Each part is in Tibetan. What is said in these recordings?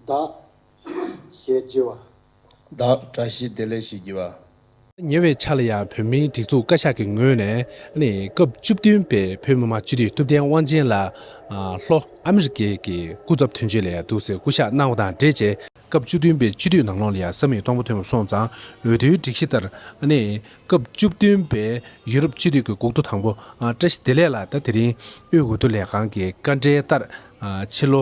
བདག། ཞེས་བགྱི་བ། བདག། བཀྲ་ཤིས་བདེ་ལེགས་ཞེས་བགྱི་བ། ཉེ་བའི་ཆར་ལ་ཡང་བོད་མིའི་སྒྲིག་འཛུགས་བཀའ་ཤག་གི་ངོས་ནས། སྐབས་བཅུ་བདུན་པའི་བོད་མི་མང་སྤྱི་འཐུས་ཐུབ་བསྟན་དབང་ཆེན་ལགས། ལྷོ་ཨ་མི་རི་ཀའི་གི་སྐུ་ཚབ་དོན་གཅོད་ལ་ཡང་འདུག་ཟེར་སྐུ་ཞག་གནང་བ་དང་འབྲེལ་བཅས། སྐབས་བཅུ་བདུན་པའི་སྤྱི་འཐུས་ནང་ལོགས་ལ་ཡང་ས་མིག་སྟོང་པ་ཐོན་མ་སོང་ཙང་འོས་བསྡུའི་སྒྲིག་གཞི་ལྟར། སྐབས་བཅུ་བདུན་པའི་ཡུ་རོབ་སྤྱི་འཐུས་ཀྱི་འགུག་ཐོ་དང་པོ་བཀྲ་ཤིས་བདེ་ལེགས་ལགས་ད་དེ་རིང་དབུས་འོས་བསྡུ་ལས་ཁང་གི་བཀའ་འབྲེལ་ལྟར། ཕྱི་ལོ་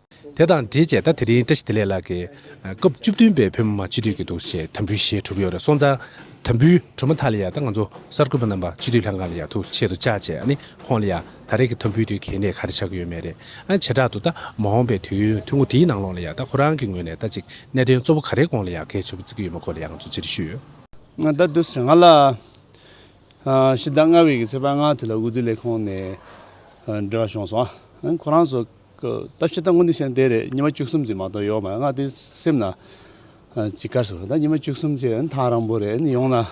དེ་དང་འབྲེལ་བྱས་ད་དེ་རིང་བཀྲ་ཤིས་བདེ་ལེགས་ལགས་ཀྱིས། སྐབས་བཅུ་བདུན་པའི་བོད་མི་མང་སྤྱི་འཐུས་ཀྱི་འདུག་ཞེས་དམ་འབུལ་ཞེས་གྲུབ་ཡོད་རེད་སོང་ཙང། དམ་འབུལ་གྲུབ་མ་ཐག་ལ་ཡང་ད་ང་ཚོ་གསར་འགོད་པ་རྣམས་པ་སྤྱི་འཐུས་ལྷན་ཁང་ལ་ཡང་ཐུགས་ཆེད་དུ་བཅར་བྱས་ཨ་ནི་ཁོང་ལ་ཡང་ད་རེས་ཀྱི་དམ་འབུལ་དུས་གལ་གནད་ག་རེ་ཆགས་ཀྱི་ཡོད་མེད་རེད་ཨ། བྱེ་བྲག་ཏུ་ད་མ་འོངས་པའི་དུས་ཡུན་ཐུང་ངུ་དེའི་ནང་ལོགས་ལ་ཡང་ད་ཁོ་རང་གི་ངོས་ནས་ད་ཅིག་གནད་དོན་གཙོ་བོ་ག་རེའི་དགོངས་ལ་ཡང་གལ་ཆེ་པོ་བརྩི་གི་ཡོད་མེད་སྐོར་ལ་ཡང་ང་ཚོ་ཅི་རེ་ཞུས་ཡོད། ང་ད་དུ་ཟེར་ང་ལ་ཕྱི་ཟླ་ལྔ་བའི་གི་ཚེས་པ་ལྔ་དེ་ལ་འོས་བསྡུ་ལས་ཁང་ནས་འབྲེལ་བ་བྱུང་སོང་ཨ་ཁོ་རང་ཚོ། ད་ཕྱི་ད་སྔོན་དུས་ཆེན་དེ་རེད་ཉི་མ་བཅུ་གསུམ་གྱི་མ་གཏོགས་ཡོག་མ་ཡོད་ང་དེ་སེམས་ན་ཇི་དགར་སོང་ད་ཉི་མ་བཅུ་གསུམ་ཅེས་ཨང་ཐང་རང་པོ་རེད་ཨང་ཡོང་ན་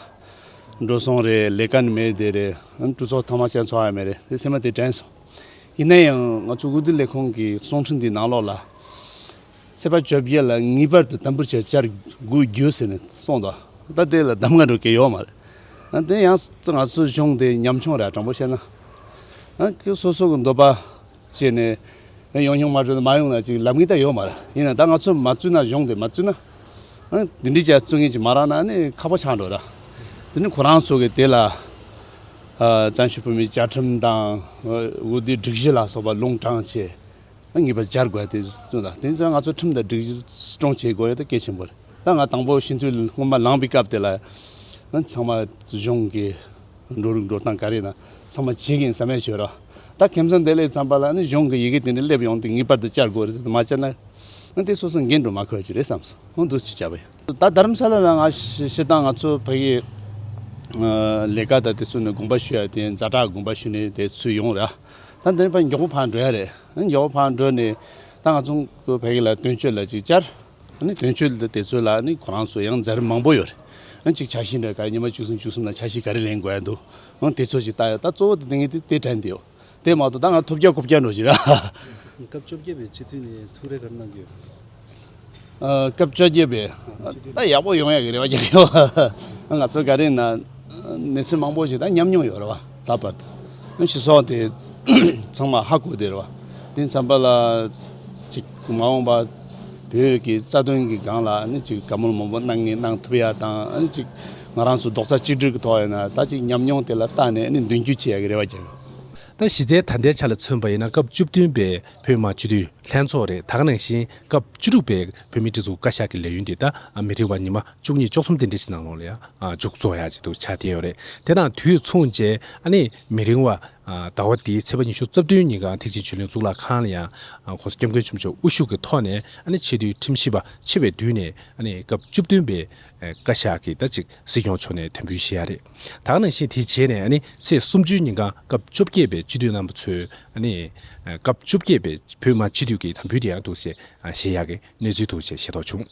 འགྲོ་སོང་རེད་ལས་ཀ་ནི་མེད་དེ་རེད་ཨང་སྤྲུ་ཚོགས་ཐང་མ་བྱས་འཚོ་བ་ཡང་མེད་རེད་དེ་སེམས་ན་དེ་དྲན་སོང་ཡིན་ན་ཡང་ང་ཚོ་དབུས་བསྡུ་ལས་ཁང་གི་ཙོང་ཁྲི་འདིའི་ནང་ལོགས་ལ་ཚེས་པ་བཅོ་བརྒྱད་ལ་ངེས་པར་དུ་དམ་འབུལ་བྱས་བཅར་དགོས་རྒྱུ་ཟེར་ནས་སོང་ད་ད་དེ་ལ་གདམ་ག་འགྲོ་མཁན་ཡོག་མ་རེད་ཨང་དེ་ཡང་ང་ཚོའི་གཞུང་དེ་ཉམ་ཆུང་རེད་དྲང་པོ་བཤད་ན་ཨང་ཀི་སོ་སོ་གི་འདོད་པ་བྱས་ནས། ཡང་ཡོང་མ་བྱུང་ན་མ་ཡོང་ན་ཅིག་ལབ་ངེས་ད་ཡོད་མ་རེད། ཡིན་ན་ད་ང་ཚོ་མ་བཙུད་ན་གཞུང་དེ་མ་བཙུད་ན། འདི་འདྲའི་ཅག་བཙུད་ངེས་ཅིག་མ་རག་ན་ནི་ཁག་པོ་ཆགས་འགྲོ་ར། དེ་ནི་ཁོ་རང་ཚོ་གི་དེ་ལ། བྱང་ཆུབ་བོད་མིའི་བཅའ་ཁྲིམས་དང། འོས་བསྡུའི་སྒྲིག་གཞི་ལ་སོགས་པ་ལུང་དྲངས་ཆེད། ངེས་པར་སྦྱར་དགོས་ད་དེ་བཙུད་ན་དེ་ནི་ང་ཚོ་ཁྲིམས་དང་སྒྲིག་གཞི་སྐྱོང་བྱེད་དགོས་རེད་ད་གལ་ཆེན་པོ་རེད། ད་ང་དང་པོ་ཞི་འཐུས་སྔོན་མ་ལངས་པའི་སྐབས་དེ་ལ། ཚང་མ་གཞུང་གི། འགྲོ་རིགས་འགྲོ་སྟངས་ག་རེ་ན་ཚང་མ་བྱེད་གིན་ཟ་མས་བྱོས་རོགས། ད་ཁྱིམ་ཚང་དེ་ལས་བརྩམས་པ་ལ་ནི་གཞུང་གི་ཡི་གེ་དེ་འདྲ་སླེབས་ཡོང་དུས་ངེས་པར་དུ་བཅར་དགོས་རེད་ཟེར་མ་བཅར་ན་ཨ་འདི་སོ་སོ་འགན་འགྲོ་མ་འཁོད་ཀྱི་རེད་བསམ་སོང་འདུག་ཅེས་བྱ་བ་ཡིན། ད་དར་མཚ་ལ་ལ་ང་ཤི་སྟངས་ང་ཚོ་བོད་ཡིག་ལས་ཀ་དང་དེ་ཚོ་ནི་དགོངས་པ་ཞུ་ཡ་དེ་ཛ་དྲག་དགོངས་པ་ཞུ་ནས་དེ་ཚུད་ཡོང་ར། ད་འདི་ནི་ཕ་མགྱོགས་པོ་ཕར་འགྲོ་ཡ་རེད། མགྱོགས་པོ་ཕར་འགྲོ་ནས་ད་ང་ཚོ་བོད་ཡིག་ལ་དོན་གཅོད་ལ་ཅིག་བཅར། ནི་དོན་གཅོད་དེ་ཚོ་ལ་ནི་ཁོ་རང་ཚོ་ཡང་མཛའ་རིམ་མང་པོ་ཡོད་རེད། གཅིག་ཆ་ཤས་འདྲ་ག་རེ་ཉི་མ་བཅུ་གསུམ་བཅུ་གསུམ་ལ་ཆ་ཤས་ག་རེ་ལེན་དགོས་ཡ་འདུག་དེ་ཚོ་ཞིག་ལྟ་ཡོད་ད་གཙོ་བོ་དེ་ངས་དེ་དྲན་བསྡད་ཡོད་དེ་མ་གཏོགས་ད་ང་ཐོབ་བརྒྱ་གོ་བརྒྱ་འགྲོ་བཞིན་རེད། སྐབས་བཅོ་བརྒྱད་པའི་སྤྱི་འཐུས་ནས་ཐུགས་རེ་ག་རེ་གནང་གི་ཡོད། སྐབས་བཅོ་བརྒྱད་པའི་ད་ཡག་པོ་ཡོང་ཡག་གི་རེ་བ་རྒྱབ་ཡོད། ང་ཚོ་ག་རེ་ན་གནས་ཚུལ་མང་པོ་ཞིག་ད་ཉམས་མྱོང་ཡོད་རེད་བ། ད་བར་དུ་ཨུན་ཆི་སོགས་དེ་ཚང་མ་ཧ་གོ་བདེ་རུ་བ་དེ་མཚམས་པ་ལ་ཅིག་མ་འོངས་པ་བོད་ཀྱི་རྩ་དོན་གྱི་སྒང་ལ་ཨ་ནི་ཅིག་བཀའ་མོལ་མང་པོ་གནང་ངེས་གནང་ཐུབ་ཡ་དང་ཨ་ནི་ཅིག་ང་རང་ཚོ་རྡོག་རྩ་གཅིག་སྒྲིལ་གྱི་ཐོག་ཡིན་ན་ད་ཅིག་ཉམས་མྱོང་དེ་ལ་བརྟགས་ནས་ཨ་ནི་མདུན་སྐྱོད་བྱེད་ཡ་གི་རེ་བ་རྒྱབ་ཡོད། ད་གཞི་རྩའི་ད་ལྟའི་ཆ་ལ་མཚོན་པ་ཡིན་ན་སྐབས་བཅུ་བདུན་པའི་བོད་དམག་སྤྱི་འཐུས་ལྷན་ཚོགས་རེད་ད་ག་ནང་བཞིན་སྐབས་བཅུ་དྲུག་པའི་བོད་མི་སྒྲིག་འཛུགས་བཀའ་ཤག་གི་ལས་ཡུན་དེ་ད་མི་རིང་བ་ཉི་མ་བཅུ་གཉིས་ཅོག་གསུམ་དེ་འདྲ་ཞིག་ནང་ལོགས་ལ་ཡང་འཇུག་རྫོགས་ཡག་ཅིག་འདུག་ཆ་དེ་ཡོད་རེད་དེ་དང་དུས་མཚུངས་རྗེས་ཨ་ནི་མི་རིང་བ་ཟླ་བ་འདིའི་ཚེས་པ་ཉི་ཤུ་རྩ་བདུན་ཉིན་གངས་ཐིག་ཆེན་ཆོས་གླིང་གཙུག་ལག་ཁང་ལ་ཡང ྋགོང་ས་སྐྱབས་མགོན་ཆེན་པོ་མཆོག་དབུ་བཞུགས་ཀྱི་ཐོག་ནས་ཨ་ནི་ཆེས་དུས་ཁྲིམས་ཞིབ་པ་ཆེ་བའི་མདུན་ནས་ཨ་ནི་སྐབས་བཅུ་བདུན་པའི་བཀའ་ཤག་གི་ཟླ་གཅིག་སྲིད་སྐྱོང་མཆོག་ནས་དོན་འབུལ་བཞེས་ཡག་རེད་དྭགས་ནང་བཞིན་དེ་རྗེས་ནས་ཨ་ནི་ཚེས་སུམ་ཅུའི་ཉིན་གངས་སྐབས་བཅོ་བརྒྱད་པའི་སྤྱི་འཐུས་རྣམ་པ་ཚོས་ཨ་ནི་སྐབས་བཅོ་བརྒྱད་པའི་བོད་དམངས་སྤྱི་འཐུས་ཀྱི་དམ་འབུལ་དེ་ཡང་འདུག་ཅེས་བཞེས་ཡག་གི་གནས་ཚུལ་འདུག་ཅེས་ཤེས་རྟོགས་བྱུང།